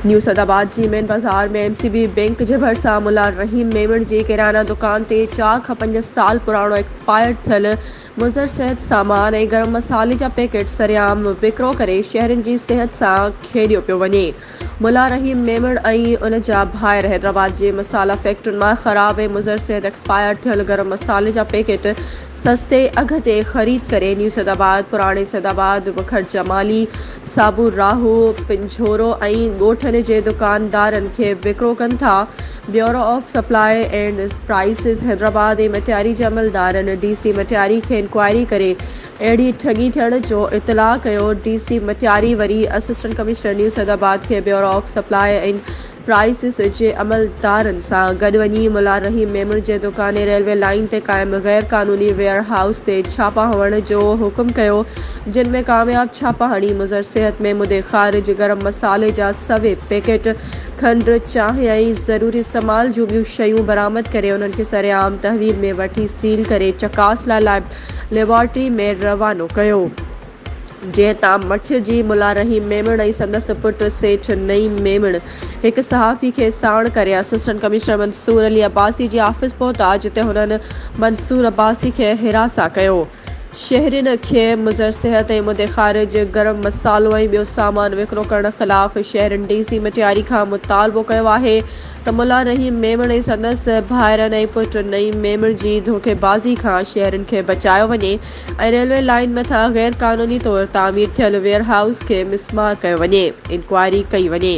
نيو سعدآباد جي مين بازار ۾ M C B bank جي ڀرسان ملا رحيم ميمڻ جي ڪريانه دڪان تي چار کان پنج سال پراڻو ايڪسپائر ٿيل مضر صحت سامان ۽ گرم مصالحي جا پيڪيٽ سرعام وڪرو ڪري شهرين جي صحت سان کيڏيو پيو وڃي ملا رحيم ميمڻ ۽ ان جا ڀائر حيدرآباد جي مصالحه فيڪٽرين مان خراب ۽ مضر صحت ايڪسپائر ٿيل گرم مصالحي جا پيڪيٽ سستي اگهه تي خريد ڪري نيو سيد آباد، پراڻي سيد آباد، وکر جمالي، صابو راهو، پنجهورو ۽ ڳوٺن جي دڪاندارن کي وڪرو ڪن ٿا. Bureau of supply and prices Hyderabad ۽ Matiari جي عملدارن ڊي سي مٽياري کي انڪوائري ڪري اهڙي ٺڳي ٿيڻ جو اطلاع ڪيو ڊي سي مٽياري وري اسسٽنٽ ڪمشنر نيو سيدآباد کي bureau of supply and prices جي عملدارن سان گڏ وڃي ملا رحيم ميمڻ جي دڪاني ريلوي لائين تي قائم غير قانوني ويئر هائوس تي ڇاپا هڻڻ جو حڪم ڪيو جن ۾ ڪامياب ڇاپا هڻي مضر صحت ۾ مدي خارج گرم مصالحي جا سوي پيڪيٽ کنڊ چانهه ۽ ضروري استعمال جون ٻيون شيون برآمد ڪري انهن کي سرعام تحويل ۾ وٺي سيل ڪري چڪاس لاء ليبارٽري ۾ روانو ڪيو، جنهن تان مٺيء جي ملا رحيم ميمڻ ۽ سندس پٽ سيٺ نعيم ميمڻ هڪ صحافي کي ساڻ ڪري اسسٽنٽ ڪمشنر منصور علي عباسي جي آفيس پهتا، جتي هنن منصور عباسي کي حراسان ڪيو. شهرين کي مضر صحت ۽ مدي خارج، گرم مصالحو ۽ ٻيو سامان وڪرو ڪرڻ خلاف شهرين ڊي سي مٽياري کان مطالبو ڪيو آهي ته ملا رحيم ميمڻ ۽ سندس ڀائرن ۽ پٽ نعيم ميمڻ جي ڌوڪيبازي کان شهرين کي بچايو وڃي ۽ ريلوي لائين مٿان غير قانوني طور تعمير ٿيل ويئر هائوس کي مسمار ڪيو وڃي، انڪوائري ڪئي وڃي.